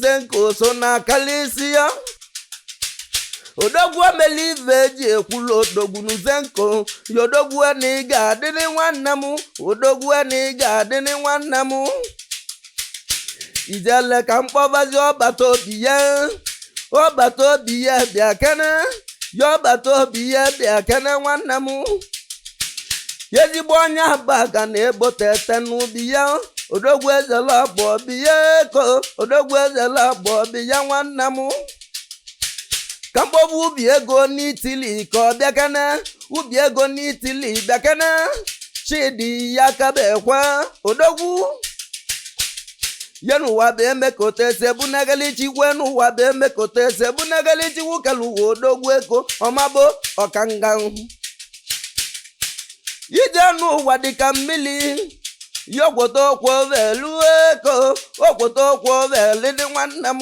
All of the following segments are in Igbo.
zenco so na kalisi ya odogwu emela ife eji ekwulu odogwu nụ zenco ya odogwu na ị ga-adịrị nwanne m odogwu na ị ga-adịrị nwanne m ijele ka m kpọbazi ọbata obie ọbata obie bịakene ya ọbata obie bịakene nwanne m ya ezigbo onye abagana ebo teghete nụ bịa odogwu ezela bụ obi ya eko odogwu ezela bụ obi ya nwanne m ka m kpọba ubi ego n'itili ka ọ bịakene ubi ego n'itili bịakene chidi ya kaba ekwe odogwu ya n'ụwa bụ emekọta esekpuo na-ekele chukwu e n'ụwa bụ emekọta esekpuo na-ekele chukwu kelu ụwa odogwu ego ọmabo ọkanga ije n'ụwa dịka mmiri ya ọkwọta ọkwọvelu eko ọkwọta ọkwọvelu dị nwanne m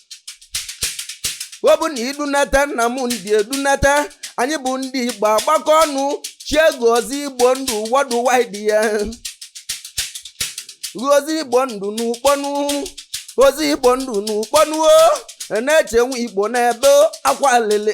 ọ bụ na i dunata nna m ndị edunata anyị bụ ndị igbo agbakọ ọnụ chie gị ọzọ igbo ndụ worldwide ya ọzọ igbo ndụ n'ukpo nụ ọzọ igbo ndụ n'ukpo nụ o na-eche nwa igbo na-ebe akwa lele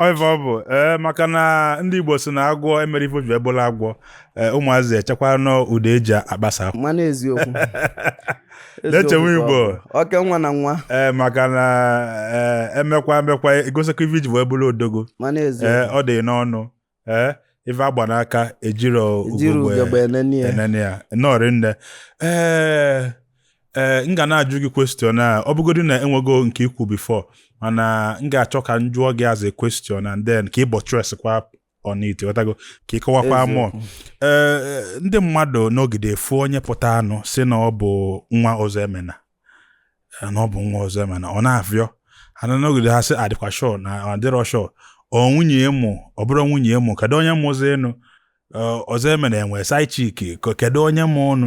ọ ive ọ bụ ee maka na ndị igbo sị na agwọ emerọ ife o ji wee bụlụ agwọ ee ụmụazị echekwa na ọ ụdọ eji agbasa akwa mana eziokwu Na-echewe Eziokwu Igbo. ka ọ bụ. oke nwa na nwa ee maka na ee emekwa emekwa egosikwa ife i ji wee bụrụ odogwu mana ee eziokwu ọ dịhọ n'ọnụ ee ife agba n'aka ejirọ Ejirọ ugogbe ugegbe enene ya. enene ya nọọrị nne ee ee m ga na-ajụ gị question a ọ bụgodu na enwego nke i kwu before mana m ga-achọ ka m jụọ gị as a question and then ka ị buttress kwa on it ghọtago ka ị kọwakwa Eziokwu. mụọ ee ndị mmadụ nọgide afụ onye pụtanụ sị na ọ bụ nwa ọzọemena na ọ bụ nwa ọzọemena ọ na-afịọ ana nọgide ha sị adịkwa sure na adịrọ sure ọ nwunye mụ ọ bụrụ nwunye mụ kedu onye mụzi ụnụ ọzọemena enwe side chick kedu onye mụ ụnụ